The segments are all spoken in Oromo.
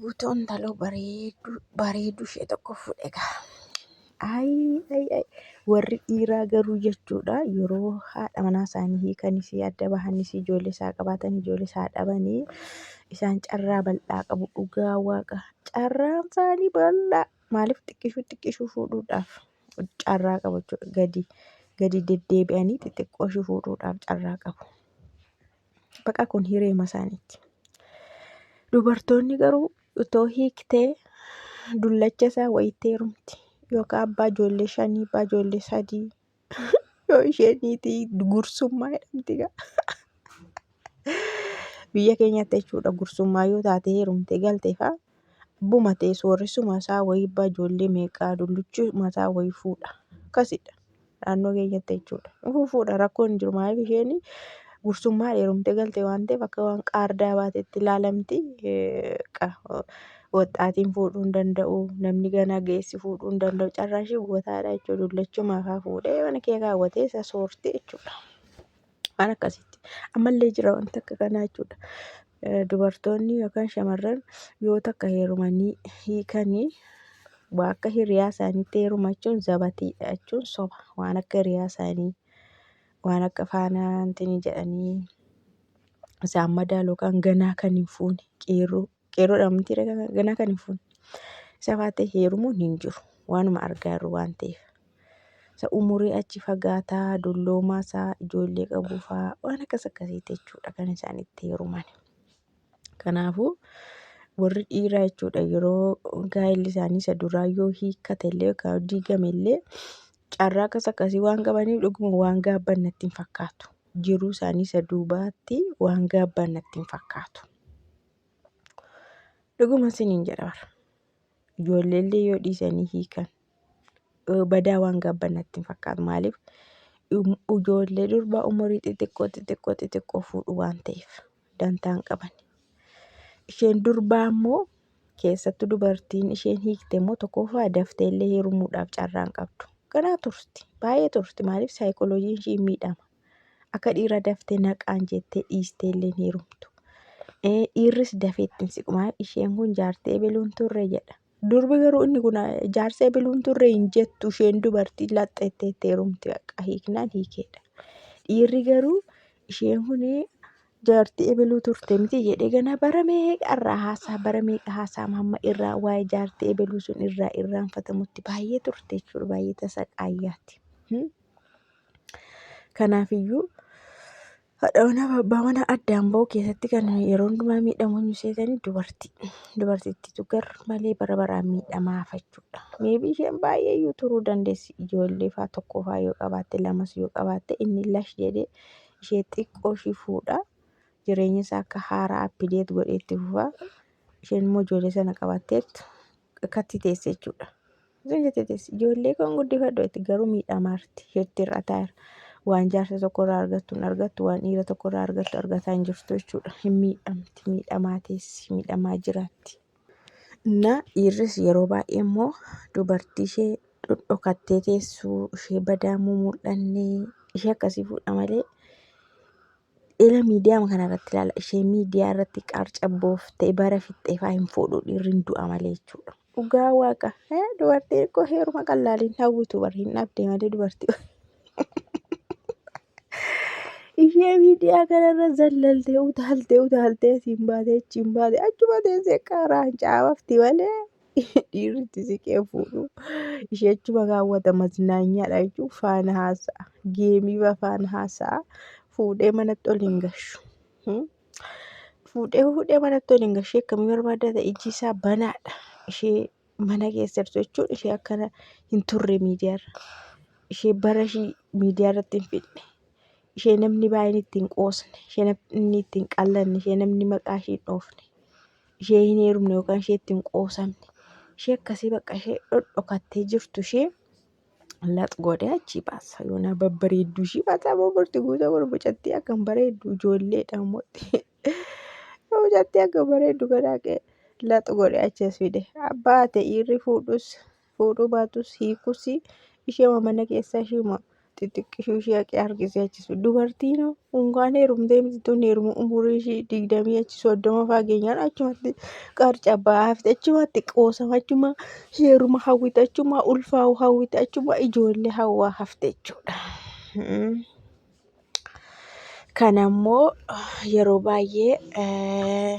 Guutuu intaloo bareedu bareedu ishee tokko fuudhe gaa. Ayi ayi ayi warri dhiiraa garuu jechuudha yeroo haadha manaa isaanii hiikanis adda bahanis ijoollee isaa qabaatan ijoollee isaa dhabanii isaan carraa bal'aa qabu dhugaa waaqa carraan isaanii bal'aa maaliif xiqqishuu xiqqishuu fuudhuudhaaf carraa qabu jechuudha gadi gadi deddeebi'anii xixiqqoo ishii fuudhuudhaaf carraa qabu. Baqa kun hireema isaaniitti. Dubartoonni garuu utoo hiiktee dullacha isaa wayittee heerumti. Yookaan abbaa ijoollee shanii, abbaa ijoollee sadii. Yoo isheen niitii gursummaa jedhamti gaa. Biyya keenyatti jechuudha gursummaa yoo taate heerumte galteefaa. Abbuma ta'e sooressuma isaa wayii abbaa ijoollee meeqaa dulluchuma isaa wayii fuudha. Akkasidha. naannoo keenyatti jechuudha. Fufuudha rakkoo hin jiru maaliif isheen gursummaa dheerumtee galte waan ta'eef akka waan qaardaa baatetti ilaalamti. Waxxaatiin fuudhuu hin danda'u namni ganaa geessi fuudhuu hin danda'u carraa ishee gubataadha jechuudha. Dullachuma haa fuudhee mana kee kaawwatee isa soorti jechuudha. waan akkasitti ammallee jira wanti akka kanaa jechuudha. Dubartoonni yookaan shamarran yoo takka heerumanii hiikanii waa akka hiriyaa isaaniitti heeruma jechuun zabatiidha jechuun soba waan akka hiriyaa isaanii waan akka faanaa wanti jedhanii isaan madaalu yookaan ganaa kan hin fuune qeerroo Qeerroo dhamamtii ganaa kan hin fuune. Isa baatee heerumuun hin jiru. Waanuma argaa jirru waan ta'eef. Isa umurii achi fagaataa, dulloomaa isaa, ijoollee qabuu fa'aa waan akkas akkasiiti jechuudha kan isaan itti heeruman. Kanaafuu warri dhiiraa jechuudha yeroo gaa'elli isaanii isa duraa yoo hiikkate illee yookaan diigame illee carraa akkas akkasii waan qabaniif dhuguma waan gaabban natti hin fakkaatu. Jiruu isaanii isa duubaatti waan gaabban natti hin fakkaatu. Dhuguma isiniin jedha bara. Ijoolleellee yoo dhiisanii hiikan badaa waan gaabban natti hin fakkaatu. Maaliif ijoollee durbaa umurii xixiqqoo xixiqqoo xixiqqoo fuudhu waan ta'eef dantaan qaban. Isheen durbaa immoo keessattuu dubartiin isheen hiikte immoo tokkoffaa daftee illee heerumuudhaaf carraan qabdu. Ganaa turti baay'ee turti maaliif saayikolojiin ishii miidhama. Akka dhiira daftee naqaan jettee dhiistee illee hin heerumtu. Dhiirris dafee ittiin siqumaa isheen kun jaartii ebeluun turre jedha. Durbi garuu inni kun jaarsa ebeluun turre hin jettu isheen dubartii laxxeettee itti heerumti baqa hiiknaan hiikeedha. Dhiirri garuu isheen kun jaartii ebeluu turte miti jedhee gana bara meeqa irraa haasaa bara meeqa haasaa hamma irraa waa'ee jaartii ebeluu sun irraa irraanfatamutti baay'ee turte jechuudha baay'ee tasaqaayyaatti. Kanaaf iyyuu haadha manaa fi abbaa manaa addaan ba'uu keessatti kan yeroo hundumaa miidhamu eenyu seetani dubartii. Dubartittiitu gar malee bara baraan miidhamaa hafa jechuudha. Meebii isheen baay'ee iyyuu turuu dandeessi ijoollee faa tokko faa yoo qabaatte lamas yoo qabaatte inni lash jedhee ishee xiqqoo ishii fuudha. Jireenya isaa akka haaraa appideet godhee itti fufa. Isheen immoo ijoollee sana qabattee akkatti teesse jechuudha. Isin jettee teessi ijoollee koon guddifadhu jetti garuu miidhamaarti isheetti irra taa'eera. Waan jaarsa tokkorraa argattu hin argattu waan dhiira tokkorraa argattu argataa hin jirtu jechuudha. Hin miidhamti miidhamaa teessi miidhamaa jiraatti. Innaa dhiirris yeroo baay'ee immoo dubartii ishee dhodhokattee teessuu ishee badaamuu mul'annee ishee akkasii fuudha malee Ila miidiyaa kana irratti ilaala. Ishee miidiyaa irratti qarcabbooftee bara fixxeefaa hin fuudhu dhiirri hin du'a malee jechuudha. Dhugaa waaqa. Eh, Dubartii xiqqoo heeruma qallaaliin hawwitu bar hin dhabde malee dubartii. Ishee miidiyaa kanarra zallaltee utaaltee utaaltee siin baatee achiin baatee achuma teessee qaraan caafafti malee dhiirri itti siqee fuudhu ishee achuma kaawwata maznaanyaadha jechuun faana haasa'a geemii baa faana haasa'a fuudhee manatti ol hin gashu. Hmm? Fuudhee fuudhee manatti ol hin gashu ishee akkamii barbaadda ta'e ijji isaa banaadha ishee mana keessa jirtu jechuun ishee akkana hin turre miidiyaarra ishee bara ishii miidiyaarratti hin fidne. ishee namni baay'een ittiin qoosne ishee namni ittiin qallanne ishee namni maqaa ishee hin dhoofne ishee hin heerumne yookaan ishee ittiin qoosamne ishee akkasii bakka ishee dhodhokattee jirtu ishee lax godhee achii baasa yoonaa babbareedduu ishii baasaa boborti guutuu kun mucattii akka hin bareeddu ijoollee dhaamotti mucattii akka hin bareeddu gadaaqee lax godhee achiis fide abbaa ta'e irri fuudhus fuudhuu baatus hiikuus isheema mana keessaa isheema xixiqqishuu ishee haqee harkisee achisu dubartiin unkaan heerumtee mitiituun heerumu umurii ishee digdamii achi soddoma faageenyaan achumatti qarca baafte achumatti qoosama achuma heeruma hawwite achuma ulfaa'u hawwite achuma ijoollee hawwaa hafte jechuudha. Kanammoo yeroo baay'ee.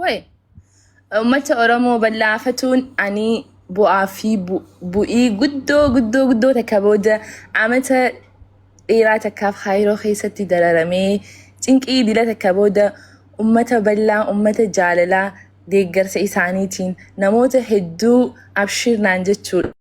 Way! Uummata Oromoo bal'aa fatuun ani bu'aa fi bu- bu'ii guddoo guddoo guddoo takka booda amata dheeraa takkaaf Kaayiroo keessatti dararamee cinqii dila takka booda uummata bal'aa uummata jaalalaa deeggarsa isaaniitiin namoota hedduu abshiir naan jechuudha.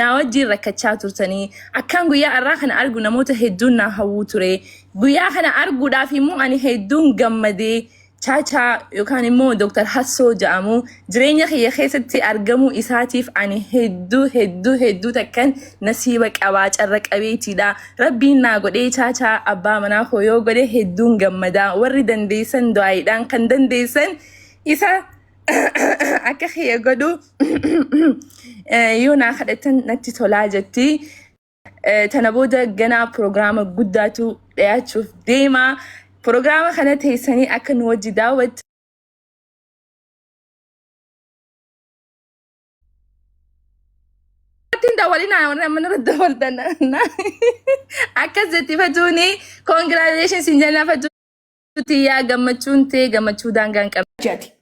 naa wajjiin rakkachaa turtanii akkaan guyyaa arraa kana argu namoota hedduun naa hawwuu ture guyyaa kana arguudhaaf immoo ani hedduun gammadee chaachaa yookaan immoo Dr. Hassoo ja'amu jireenya kiyya keessatti argamuu isaatiif ani hedduu hedduu hedduu takkan nasiiba qabaa carra qabeetiidha rabbiin naa godhee chaachaa abbaa manaa koo yoo godhe hedduun gammadaa warri dandeessan du'aayiidhaan kan dandeessan isa akka kiyya godhu yoo naa kadhatan natti tolaa jetti. Eh, Tana booda ganaa pirogiraama guddaatu dhiyaachuuf deema. Pirogiraama kana teessanii akka nu wajji daawwattan Ittiin daawwalinaa warra mana irratti daawwatan. Akkas jetti fatuuni. Congratulations hin jenna fatuuni. tiyyaa gammachuun tee gammachuu daangaa hin qabne. jati.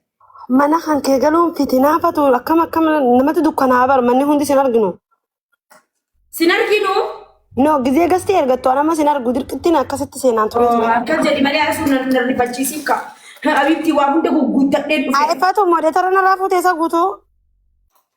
Mana kan kee galuun fitinaa fatu akkam akkam namatti dukkanaa bar manni hundi sin arginu. Sin arginu. No gizee gasti ergattu an amma sin argu dirqittiin akkasitti seenaan ture ture. Akka jedhi malee arasuun na na rifachiisiif ka. Abitti waa hunda gugguuttadheen dhufe. Aifatu modeetara narraa fuutee isa guutuu.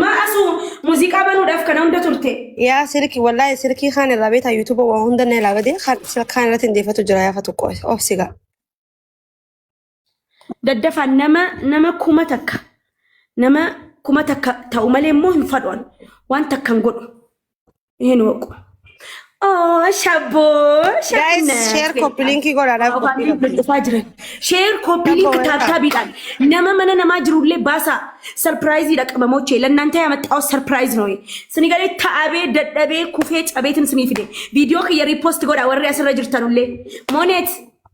Maa asuu muuziqaa banuudhaaf kana hunda turte. yaa silki wallaahi silkii kaan irraa beetaa yuutuuba waan hunda na ilaa badee kaan silkaan irratti hin deeffatu jira yaa fatu qoy obsigaa. daddafaan nama nama kuma takka nama kuma takka ta'u malee immoo hin fadhoon waan takka hin godhu hin hooqu. Oh, shabboo, Guys, shabbina. share copy link godhaa dhaaf Afaan copy link. link dhufaa jiran. Share copy link Tokko wayita. taataabiidhaan nama mana namaa jirullee baasaa sarpiraayiziidha qabamochee lannaan ta'e amaxxaa'u sarpiraayiz nooyi. Sini galee ta'abee dadhabee kufee cabeetin sinii fide. Viidiyoo kiyya riipoosti godhaa warri asirra jirtanullee. Mooneet